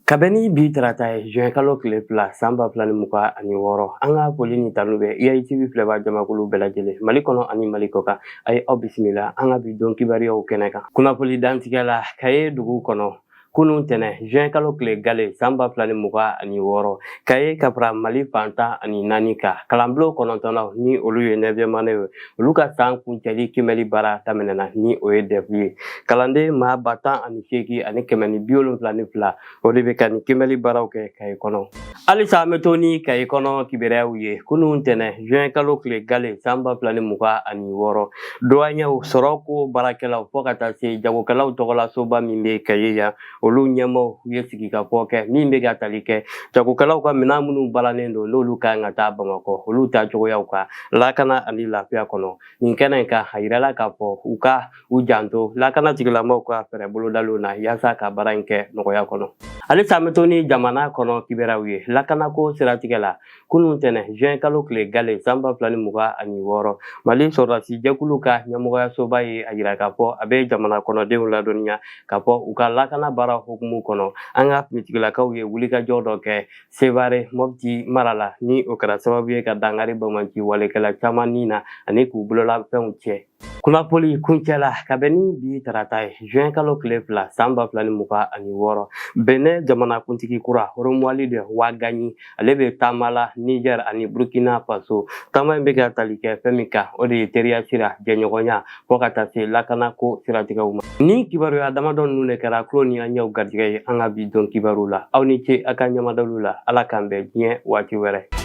Ka bɛn ni bi tarata ye juin kalo tile fila san ba fila ni mugan ani wɔɔrɔ an ka foli ni tanu bɛ IATV filɛbaa jamakulu bɛɛ lajɛlen Mali kɔnɔ ani Mali kɔkan a ye aw bisimila an ka bi don kibaruyaw kɛnɛ kan kunnafoni dantigɛ la Kaye dugu kɔnɔ kunun tɛnɛ juin kalo tile gale san ba fila ni mugan ani wɔɔrɔ Kaye ka fara Mali fan tan ani naani kan kalanbulon kɔnɔntɔnnanw ni olu ye neuvième année ye olu ka san kuncɛli kiimɛli baara daminɛna ni o ye DEF ye kalanden maa ba tan ani seegin ani kɛmɛ ni bi wolonfila ni fila o de bɛ ka nin kiimɛli baaraw kɛ kaye kɔnɔ halisa an bɛ to ni kaye kɔnɔ kibaruyaw ye kunun tɛnɛ juin kalo tile gale san ba fila ni mugan ani wɔɔrɔ duwaɲɛw sɔrɔko baarakɛlaw fɔ ka taa se jagokɛlaw tɔgɔla soba min bɛ kaye yan olu ɲɛmaaw ye sigikafɔ kɛ min bɛ ka tali kɛ jagokɛlaw ka minɛn minnu balannen don n'olu ka kan ka taa bamakɔ olu taa cogoyaw kan lakana ani lafiya kɔnɔ nin kɛnɛ in kan a yirala k'a fɔ u ka u janto lakana tigilamɔgɔw ka fɛɛrɛ bolodaliw na yaasa ka baara in kɛ nɔgɔya kɔnɔ halisa an bɛ to ni jamana kɔnɔ kibaruyaw ye lakanako siratigɛ la kunun tɛnɛ juin kalo tile gale san ba fila ni mugan ani wɔɔrɔ mali sɔrɔdasi jɛkulu ka ɲɛmɔgɔyasoba ye a yira k'a fɔ a bɛ jamana kɔnɔdenw ladɔnniya k'a fɔ u ka lakana baara hukumu kɔnɔ an ka finitigilakaw ye wulikajɔ dɔ kɛ sevare mopti mara la ni o kɛra sababu ye ka dankari banbaanci walekɛla caman ni na ani k'u bolola fɛnw tiɲɛ Kunnafoni kuncɛla ka bɛn ni bi tarata ye juin kalo tile fila san ba fila ni mugan ani wɔɔrɔ benin jamanakuntigi kura romuald wadagni ale bɛ taama la niger ani burkina faso taama in bɛ ka tali kɛ fɛn min kan o de ye teriya sira jɛɲɔgɔnya fɔ ka taa se lakanako siratigɛw ma nin kibaruya damadɔ ninnu de kɛra kulo ni an ɲɛw garijɛgɛ ye an ka bi don kibaru la aw ni ce a ka ɲɛmadaliw la ala k'an bɛn diɲɛ waati wɛrɛ